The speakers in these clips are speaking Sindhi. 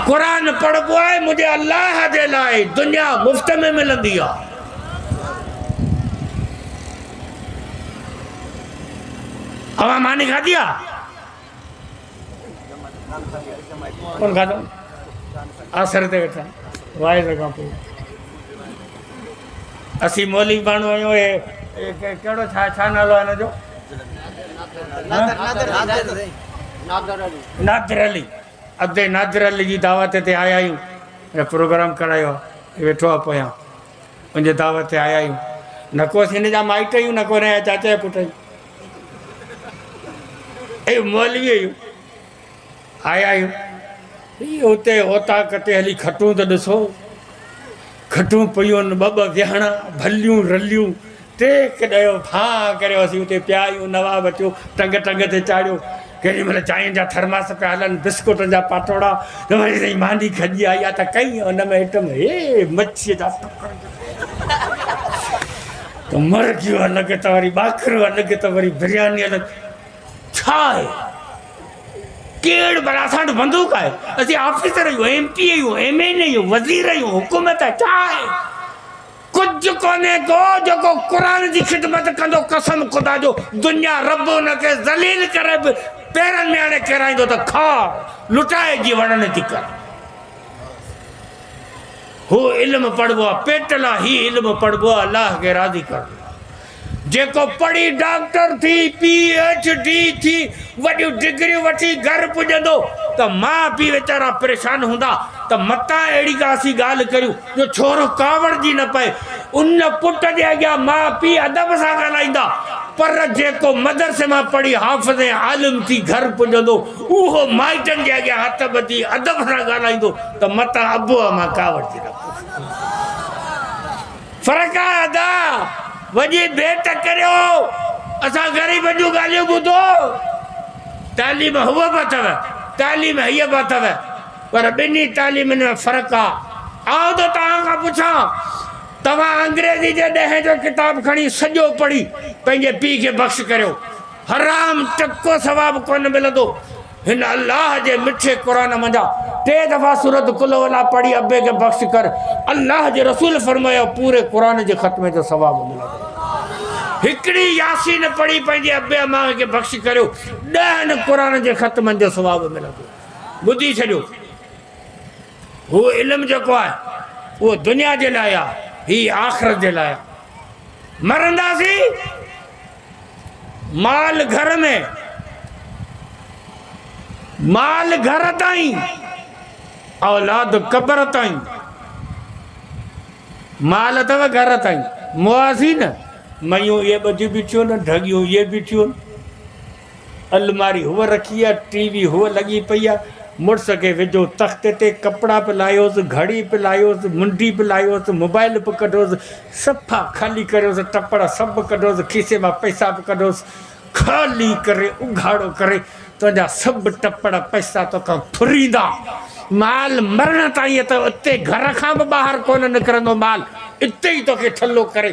قرآن پڙهبو آهي منهنجي الله جي لاء دنيا مفت ۾ ملندي آ اوهان ماني کاڌي آ ڪون کاڌو آسر تي ويٺا وائز کان پوء اسين مولي ماڻهو آهيون اهي ڪهڙو ڇا ڇا نالو آهي هن جو نادر علي ادي نادر علي جي دعوت تي آيا آهيون ان پروگرام ڪرايو آهي هي ويٺو آهي پويان ان جي دعوت تي آيا آهيون نه ڪو اسين هن جا مائٽ آهيون نه ڪو هن جا چاچا جا پٽ آهيون اي مولوي آهيون آيا آهيون اتي اوطاق تي هلي کٽون ته ڏسو کٽون پيون ٻه ٻه ويهڻا، ڀليون رليون، ٽيڪ ڏيو، ڦاهه ڪريو، اسين اتي پيا آهيون، نواب اچيو، ٽنگ ٽنگ تي چاڙهيو، ڪيڏي مهل چانهه جا ٿرماس پيا هلن، بسڪوٽن جا پاٽوڙا، وري سائين ماني کڄي آئي آهي ته ڪئين ان ۾ ائٽم، هي مڇيء جا ٽڪر جو ته مرغيون الڳ ته وري ٻاکرو الڳ ته وري برياني الڳ. ڇا آهي ڪيڙ پر اسان وٽ بندوق آهي اسين آفيسر آهيون ايم پي آهيون ايم اين اي آهيون وزير آهيون حڪومت آهي ڇا آهي ڪجهه ڪونهي ڪو جيڪو قرآن جي خدمت ڪندو قسم خدا جو دنيا رب ان کي ذليل ڪري به پيرن ۾ آڻي ڪيرائيندو ته کاء لٽائي جي وڙن ٿي ڪر هو علم پڙهبو آهي پيٽ لا هي علم پڙهبو آهي الله کي راضي ڪرڻ لاء جيڪو پڙهي ڊاڪٽر ٿي، پي ايڇ ڊي ٿي، وڏيون ڊگريون وٺي گهر پڄندو ته ماء پيء ويچارا پريشان هوندا ته متان اهڙي ڪا اسين ڳالهه ڪريون جو ڇورو ڪاوڙجي نه پئي. ان پٽ جي اڳيان ماء پيء ادب سان ڳالهائيندا. پر جيڪو مدرسي مان پڙهي حافظ ۽ عالم ٿي گهر پڄندو، اهو مائٽن جي اڳيان هٿ ٻڌي ادب سان ڳالهائيندو ته متان ابو امان ڪاوڙجي نه پئي. فرقا ادا وڄي ڀيٽ ڪريو اسان غريبن جون ڳالهيون ٻڌو تعليم هوء به اٿو تعليم هيء به اٿو پر ٻنهي تعليمن ۾ فرق آ آئون ته توهان کان پڇان توهان انگريزي جي ڏهين جو ڪتاب کڻي سڄو پڙهي پنهنجي پيء کي بخش ڪريو حرام ٽڪو ثواب ڪونه ملندو هن الله جي مٺي قرآن منجهان ٽي دفعا سورت قل هو الله پڙهي ابي کي بخش ڪر الله جي رسول فرمايو پوري قرآن جي ختمي جو ثواب ملندو هڪڙي ياسين پڙهي پنهنجي ابي اما کي بخش ڪريو ڏهن قرآن جي ختمن جو ثواب ملندو ٻڌي ڇڏيو هو علم جيڪو آهي اهو دنيا جي لاء آهي هي آخرت جي لاء مرنداسين مال گهر ۾، مال گهر تائين، اولاد قبر تائين. مال اٿو گهر تائين، موازين، ميون اهي ٻڌيون بيٺيون آهن، ڍڳيون اهي بيٺيون آهن. الماري هوء رکي آ، ٽي وي هوء لڳي پئي آ، مڙس کي وجهو تخت تي، ڪپڙا به لاهيوس، گهڙي به لاهيوس، منڊي به لاهيوس، موبائيل به ڪڍوس، صفا خالي ڪريوس، ٽپڙ سڀ ڪڍوس، کيسي مان پئسا به ڪڍوس، خالي ڪري اگهاڙو ڪري، تنهنجا سڀ ٽپڙ پئسا توکان ڦريندا، مال مرڻ تائين ته اتي گهر کان به ٻاهر ڪونه نڪرندو، مال اتي ئي توکي ٺلهو ڪري.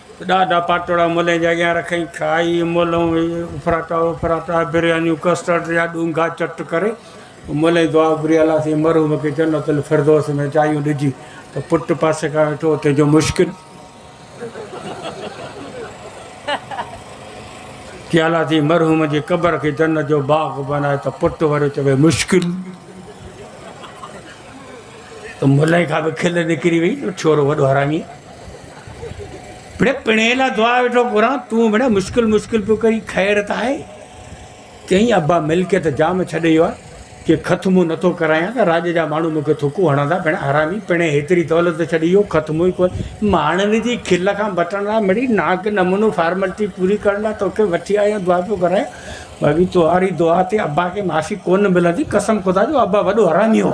ڏاڍا پاٽوڙا ملين جي اڳيان رکئين، کائي ملون هي افراٽا افراٽا، بريانيون، ڪسٽرڊ جا ڏونگها چٽ ڪري ملين دعا گهري الله سائين مرحوم کي جنت الفردوس ۾ جايون ڏجي ته پٽ پاسي کان ويٺو اتي جو مشڪل ٿي الله سائين مرحوم جي قبر کي جنت جو باغ بنائي ته پٽ وري چوي مشڪل ته ملين کان به کل نڪري وئي جو ڇورو وڏو حرامي مڙي پڻهي لا دعا ويٺو گهران، تون مڙي مشڪل مشڪل پيو ڪرين، خير ته آهي؟ چيائين، ابا ملڪيت جام ڇڏي ويو آهي، جي خط مون نه ٿو ڪرايان ته راڄ جا ماڻهو مون کي ٿڪون هڻندا، ڀيڻ حرامي پڻهي هيتري دولت ته ڇڏي ويو، خط مون ئي ڪونه. ماڻهن جي کل کان بچڻ لاء مڙي ناڪ نمونو فارملٽي پوري ڪرڻ لاء توکي وٺي آيو آهيان، دعا پيو ڪرايان، باقي توهاري دعا تي ابا کي معافي ڪونه ملندي، قسم خدا جو ابا وڏو حرامي هو.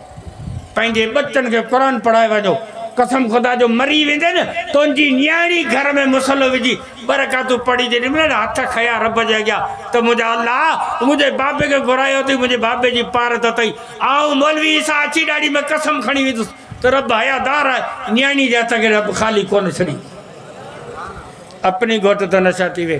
پنهنجي ٻچن کي قرآن پڙهائي وڃو. قسم خدا جو مري ويندين نه تنهنجي نياڻي گهر ۾ مصلو وجهي ٻه رڪعتون پڙهي جي ڏنبين نه هٿ کنيا رب جي اڳيان ته منهنجا الله منهنجي بابي کي گهرايو اٿئي منهنجي بابي جي پارت اٿئي آئون مولوي عيسيٰ اچي ڏاڙهي ۾ قسم کڻي ويندس ته رب حيا دار آهي نياڻي جي هٿ کي رب خالي ڪونه ڇڏي اپني گهوٽ ته نشا ٿي وي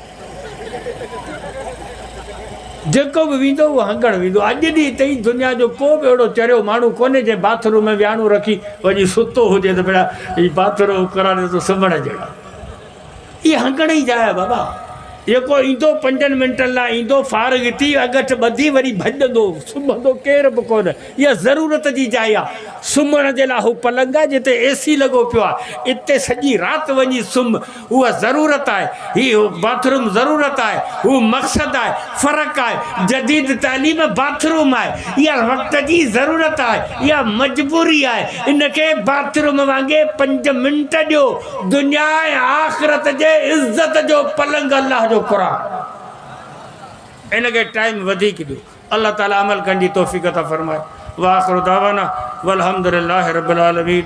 جيڪو به ويندو اهو هنگڻ ويندو. اڄ ڏينهن تائين دنيا جو ڪو به اهڙو چريو ماڻهو ڪونهي جنهن باٿ روم ۾ وياڻو رکي وڃي ستو هجي ته ڀيڙا هي باٿ روم ڪراڻيو اٿو سمهڻ جهڙا. اهي هنگڻ ئي جاء بابا. جيڪو ايندو پنجن منٽن لاء ايندو فارغ ٿي اڳٺ ٻڌي وري ڀڄندو سمهندو ڪير به ڪونه اها ضرورت جي جاء آهي سمهڻ جي لاء اهو پلنگ آهي جتي اي سي لڳو پيو آهي اتي سڄي رات وڃي سمهه هو ضرورت آهي، هي باٿ روم ضرورت آهي، هو مقصد آهي، فرق آهي، جديد تعليم باٿ روم آهي، اها وقت جي ضرورت آهي، اها مجبوري آهي، ان کي باٿ روم وانگي پنج منٽ ڏيو، دنيا ۽ آخرت جي عزت جو پلنگ الله جو قرآن ان کي ٽائيم وڌيڪ ڏيو، الله تعالي عمل ڪرڻ جي توفيق عطا فرمائي، واخر دعوانا والحمدلله رب العالمين.